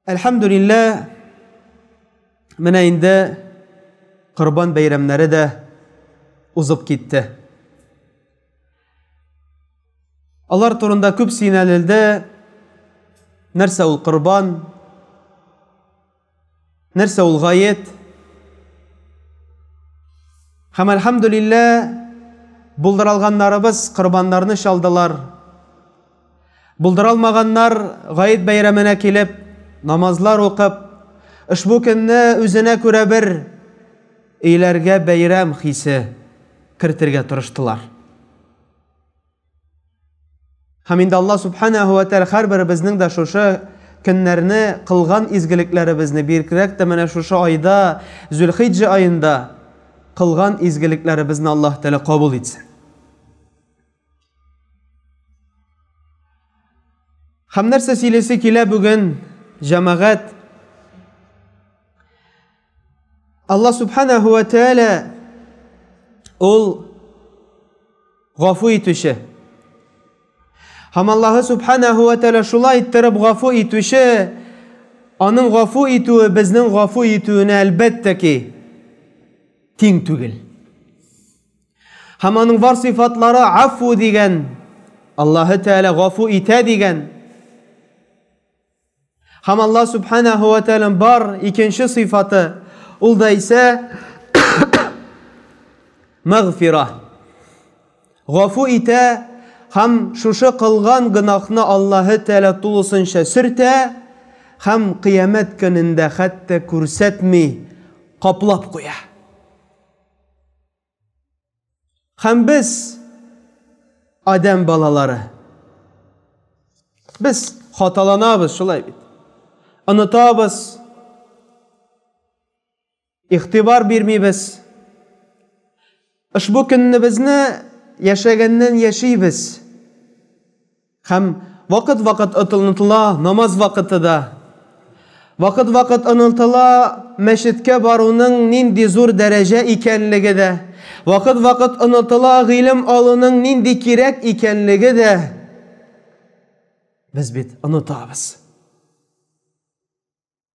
Әлхәмдулиллә, менә инде Корбан бәйрәмнәре дә узып китте. Алар турында күп сөйләнелде. Нәрсә ул Корбан? Нәрсә ул гаять? Хәм әлхәмдүлиллә, булдыралганнарыбыз корбаннарны чалдылар. Булдыралмаганнар гаять бәйрәменә килеп, намазлар укып, ошбу көнне үзенә күрә бер өйләргә бәйрәм хисе кертергә тырыштылар. Һәм инде Аллаһ Субханаһу ва Тәгалә һәрберебезнең дә шушы көннәрне кылган изгелекләребезне биркрәк тә менә шушы айда, Зөлхиҗҗә аенда кылган изгелекләребезне Аллаһ Тәгалә кабул итсен. Һәм нәрсә сөйлисе килә бүген җәмәгать? Алла субханаху ва тәәлә ул гафу итүче. Һәм Аллаһы субханаху ва тәәлә шулай иттереп гафу итүче, аның гафу итүе безнең гафу итүенә әлбәттә ки тиң түгел. Һәм аның бар сыйфатлары афу дигән, Аллаһы тәәлә гафу итә дигән. Һәм Алла Субханаһу ва Тәгалә бар икенче сыйфаты, ул да исә мәгъфира. Гафу итә һәм шушы кылган гынахны Аллаһы Тәгалә тулысынча сөртә һәм кыямәт көнендә хәтта күрсәтми каплап куя. Хәм без адәм балалары. Без хаталанабыз, шулай бит. Онытабыз. Ихтибар бирмибез. Ошбу көнне безне яшәгәннән яшибез. Һәм вакыт-вакыт отылнытыла намаз вакыты да. Вакыт-вакыт онытыла мәчеткә баруның нинди зур дәрәҗә икәнлеге дә. Вакыт-вакыт онытыла гыйлем алуның нинди кирәк икәнлеге дә. Без бит онытабыз.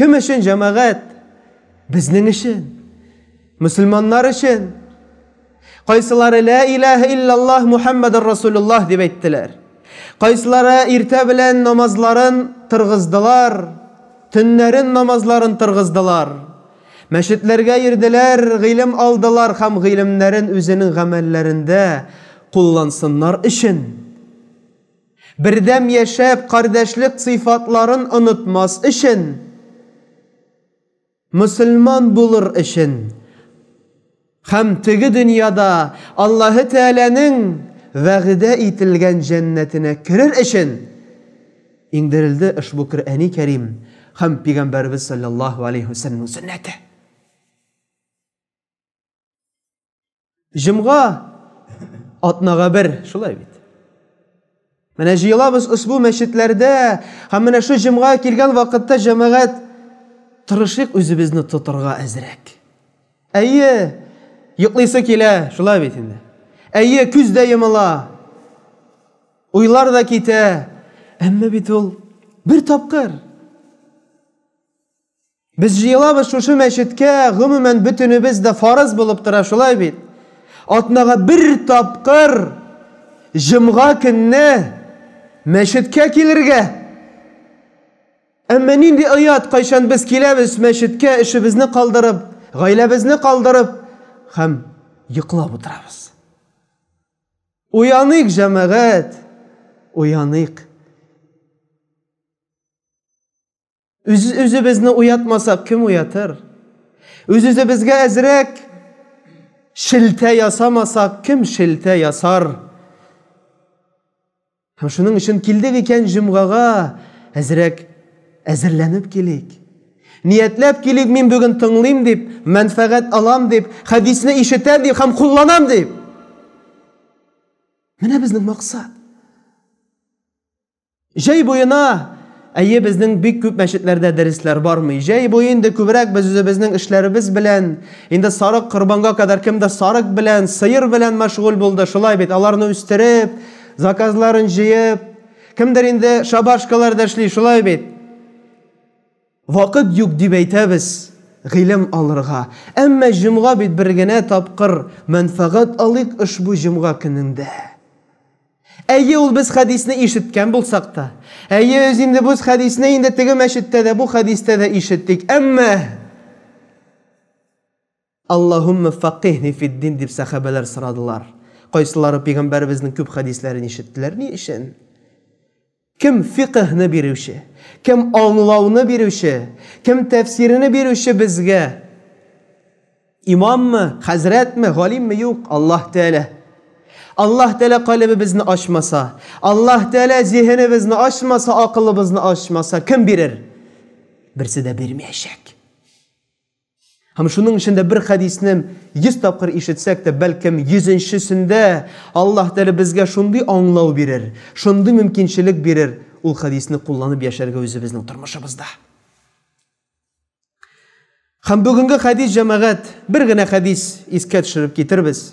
Кем өчен җәмәгать? Безнең өчен. Мөселманнар өчен. Кайсылары ла илаһа иллаллаһ Мухаммадар Расулуллаһ дип әйттеләр. Кайсылары иртә белән намазларын тыргыздылар, төннәрен намазларын тыргыздылар. Мәчетләргә йөрделәр, гыйлем алдылар һәм гыйлемнәрен үзенең гамәлләрендә куллансыннар өчен. Бердәм яшәп, кардәшлек сыйфатларын онытмас өчен, мөселман булыр өчен һәм теге дөньяда Аллаһы Тәгаләнең вәгъдә ителгән җәннәтенә керер өчен иңдерелде ошбу Көръәни Кәрим һәм Пигамбәребез салләллаһу галәйһи вә сәлләмнең сөннәте. Җомга атнага бер, шулай бит. Менә җыелабыз ошбу мәчетләрдә, һәм менә шу җомга килгән вакытта җәмәгать тырышык үзебезне тотырга әзрәк. Әйе, йоклыйсы килә, шулай бит инде. Әйе, күз дә йомыла. Уйлар да китә. Әмма бит ул бер тапкыр. Без җыелабыз шушы мәчеткә, гомумән бөтенебез дә фарыз булып тора шулай бит. Атнага бер тапкыр җомга көнне мәчеткә килергә. Әмма нинди оят, кайчан без киләбез мәчеткә, эшебезне калдырып, гаиләбезне калдырып һәм йоклап утырабыз. Уяныйк, җәмәгать, уяныйк. Үз үзебезне уятмасак, кем уятыр? Үз үзебезгә әзрәк шелтә ясамасак, кем шелтә ясар? Һәм шуның өчен килдек икән җомгага әзрәк әзерләнеп килик. Ниятләп килик, мин бүген тыңлыйм дип, мәнфәгать алам дип, хәдисне ишетәм дип һәм кулланам дип. Менә безнең максат. Җәй буена әйе безнең бик күп мәчетләрдә дәресләр бармый. Җәй буе инде күбрәк без үзебезнең эшләребез белән, инде сарык корбанга кадәр кемдә сарык белән, сыер белән мәшгуль булды. Шулай бит, аларны үстереп, заказларын җыеп, кемдер инде шабашкаларда эшли, шулай бит. Вакыт юк дип әйтәбез гыйлем алырга. Әмма җомга бит бер генә тапкыр, мәнфәгать алыйк ошбу җомга көнендә. Әйе, ул без хәдисне ишеткән булсак та. Әйе, үз инде без хәдисне инде теге мәчеттә дә, бу хәдистә дә ишеттек. Әмма Аллаһумма факихни фиддин дип сәхабәләр сорадылар. Кайсылары пәйгамбәребезнең күп хәдисләрен ишеттеләр ни өчен? Кем фикыһьне бирүче, кем аңлауны бирүче, кем тәфсирене бирүче безгә? Имаммы, хәзрәтме, галимме? Юк, Аллаһ Тәгалә. Аллаһ Тәгалә калебебезне ачмаса, Аллаһ Тәгалә зиһенебезне ачмаса, акылыбызны ачмаса, кем бирер? Берсе дә бирмәячәк. Һәм шуның өчен дә бер хәдисне 100 тапкыр ишетсәк тә, бәлкем 100-нчесендә Аллаһ Тәгалә безгә шундый аңлау бирер, шундый мөмкинчелек бирер, ул хәдисне кулланып яшәргә үзебезнең тормышыбызда. Һәм бүгенге хәдис җәмәгать, бер генә хәдис искә төшереп китербез.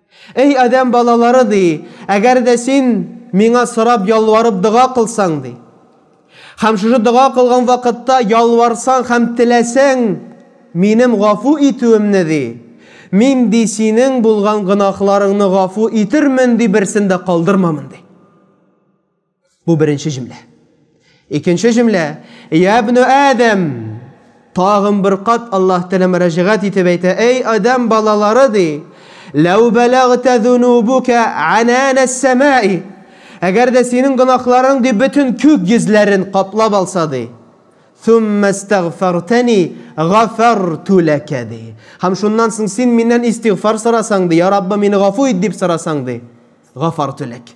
Эй адәм балалары, ди, әгәр дә син Миңа сорап, ялварып дога кылсаң, ди, һәм шушы дога кылган вакытта ялварсаң һәм теләсәң Минем гафу итүемне, ди, Мин, ди, синең булган гөнаһларыңны гафу итермен, ди, берсен дә калдырмамын, ди. Бу беренче җөмлә. Икенче җөмлә. Я ибн Адәм. Тагын бер кат Аллаһ Тәгалә мөрәҗәгать итеп әйтә, "Эй Адам балалары" ди. "Ләү балагта зунубука анана самаи" Әгәр дә синең гөнаһларың ди бөтен күк йөзләрен каплап алса ди. Сумма истагфартани гафарту лака ди. Һәм шуннан соң син миннән истигъфар сорасаң ди, "Я Раббым, мине гафу ит" дип сорасаң ди. Гафарту лак.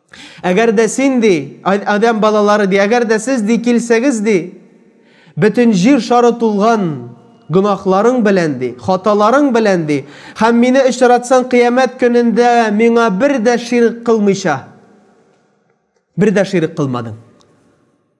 Әгәр дә син, ди, Адәм балалары, ди, әгәр дә сез, ди, килсәгез, ди, бөтен җир шары тулган гөнаһларың белән, ди, хаталарың белән, ди, һәм мине очратсаң кыямәт көнендә миңа бер дә ширк кылмыйча, бер дә ширк кылмадың.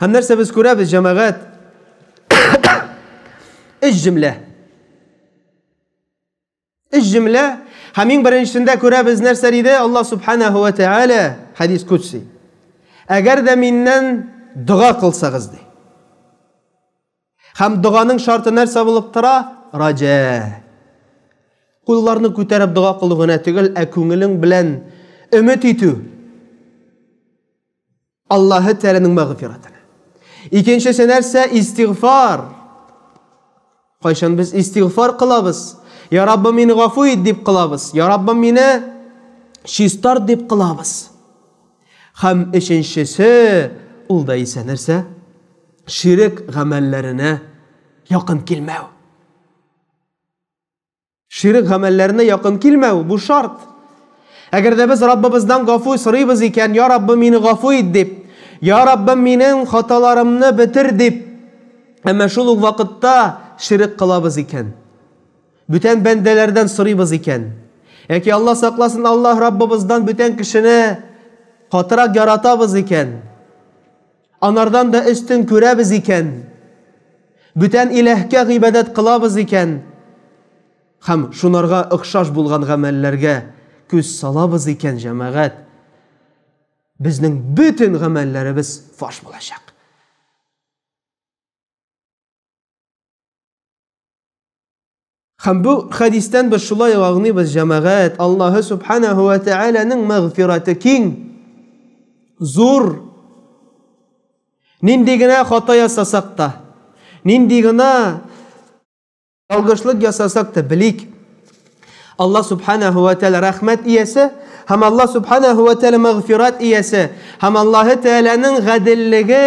Һәм нәрсә без күрәбез, җәмәгать? Өч җөмлә. Өч җөмлә. Һәм иң беренчесендә күрәбез нәрсә диде Алла субханаһу ва тааля хадис кудси. Әгәр дә миннән дога кылсагыз ди. Һәм доганың шарты нәрсә булып тора? Раҗа. Кулларны күтәреп дога кылу гына түгел, ә күңелең белән өмет итү. Аллаһы Тәгаләнең мәгъфирәтен. Икенчесе нәрсә? Истигъфар. Кайчан без истигъфар кылабыз? Я Раббым, мине гафу ит дип кылабыз. Я Раббым, мине чистарт дип кылабыз. Хәм өченчесе ул да исә нәрсә? Ширек гамәлләренә якын килмәү. Ширк гамәлләренә якын килмәү, бу шарт. Әгәр дә без Раббыбыздан гафу сорыйбыз икән, я Раббым, мине гафу ит дип, я Раббым, минем хаталарымны бетер дип, әмма шул ук вакытта ширк кылабыз икән, бүтән бәндәләрдән сорыйбыз икән, яки Алла сакласын, Аллаһ Раббыбыздан бүтән кешене катырак яратабыз икән, Анардан да өстен күрәбез икән, бүтән иләһкә гыйбадәт кылабыз икән һәм шунарга охшаш булган гамәлләргә күз салабыз икән, җәмәгать, безнең бөтен гамәлләребез фаш булачак. Һәм бу хәдистән без шулай аңлыйбыз, җәмәгать, Аллаһы субханаһу ва тәгаләнең мәгъфираты киң, зур. Нинди генә хата ясасак та, нинди генә ялгышлык ясасак та белик. Аллаһ субханаһу ва тәгалә рәхмәт иясе һәм Аллаһ субханаһу ва тәгалә мәгъфират иясе һәм Аллаһы тәгаләнең гаделлеге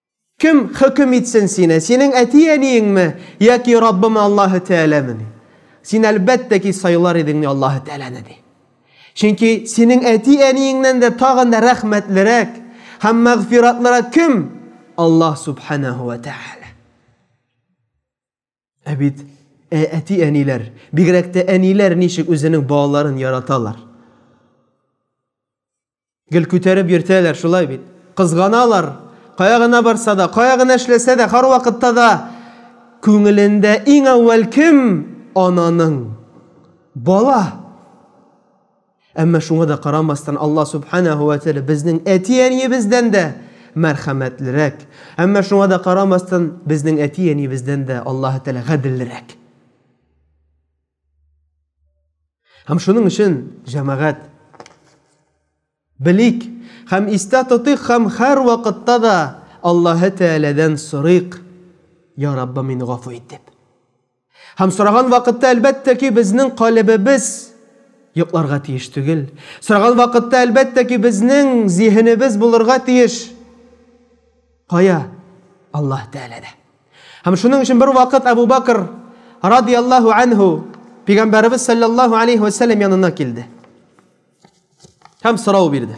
Кем хөкем итсен сине, синең әти-әниеңме яки Раббымы Аллаһы Тәгаләме? ди. Син, әлбәттә ки, сайлар идеңме Аллаһы Тәгаләне? ди. Чөнки синең әти-әниеңнән дә тагын да рәхмәтлерәк һәм мәгъфиратлырак кем? Аллаһ Сүбхәнәһү вә Тәгалә. Ә бит ә әти-әниләр, бигрәк тә әниләр ничек үзенең балаларын яраталар. Гел күтәреп йөртәләр, шулай бит. Кызганалар. Кая гына барса да, кая гына эшләсә дә, һәрвакытта да күңелендә иң әүвәл кем? Ананың. Бала. Әмма шуңа да карамастан, Алла Субханәһү вә Тәгалә безнең әти-әниебездән дә мәрхәмәтлерәк. Әмма шуңа да карамастан, безнең әти-әниебездән дә Аллаһы Тәгалә гаделлерәк. Һәм шуның өчен, җәмәгать, белик һәм истә тотыйк һәм һәр вакытта да Аллаһы Тәгаләдән сорыйк, Я Раббым, мине гафу ит дип. Һәм сораган вакытта, әлбәттә ки, безнең калебебез йокларга тиеш түгел. Сораган вакытта, әлбәттә ки, безнең зиһенебез булырга тиеш. Кая? Аллаһ Тәгаләдә. Һәм шуның өчен бер вакыт Әбу Бакр радияллаһу анһу Пәйгамбәребез саллаллаһу алейхи ва сәлләм янына килде. Һәм сорау бирде.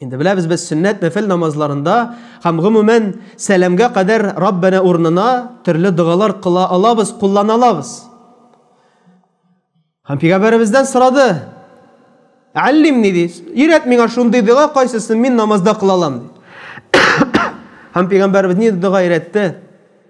Инде беләбез без сөннәт нәфел намазларында һәм гомумән сәламгә кадәр Раббана урынына төрле догалар кыла алабыз, куллана алабыз. Һәм пигамбәребездән сорады. Аллим ни дис? Ирәт миңа шундый дога кайсысын мин намазда кыла алам. Һәм пигамбәребез ни дога ирәтте?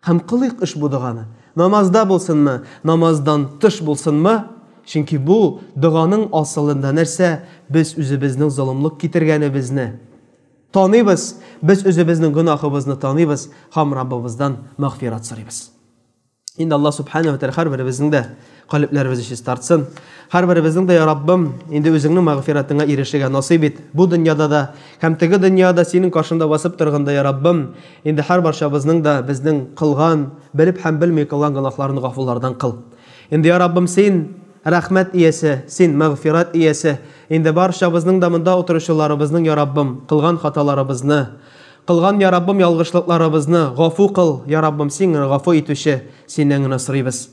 Һәм кылыйк ошбу доганы, намазда булсынмы, намаздан тыш булсынмы, чөнки бу доганың асылында нәрсә, без үзебезнең золымлык китергәнебезне таныйбыз, без үзебезнең гөнаһыбызны таныйбыз һәм Раббыбыздан мәгъфират сорыйбыз. Инде Аллаһ Сүбхәнәһү һәр беребезнең дә Калебләребез җиз тартсын. Һәрберебезнең дә, я Раббым, инде үзеңнең мәгъфиратыңа ирешергә насыйп ит. Бу дөньяда да һәм теге дөньяда синең каршыңда басып торганда, я Раббым, инде һәрбарчабызның да безнең кылган, белеп һәм белми кылган гөнаһларын гафулардан кыл. Инде, я Раббым, син рәхмәт иясе, син мәгъфират иясе, инде барчабызның да монда утыручыларыбызның, я Раббым, кылган хаталарыбызны, кылган, я Раббым, ялгышлыкларыбызны гафу кыл, я Раббым, син генә гафу итүче, синнән генә сорыйбыз.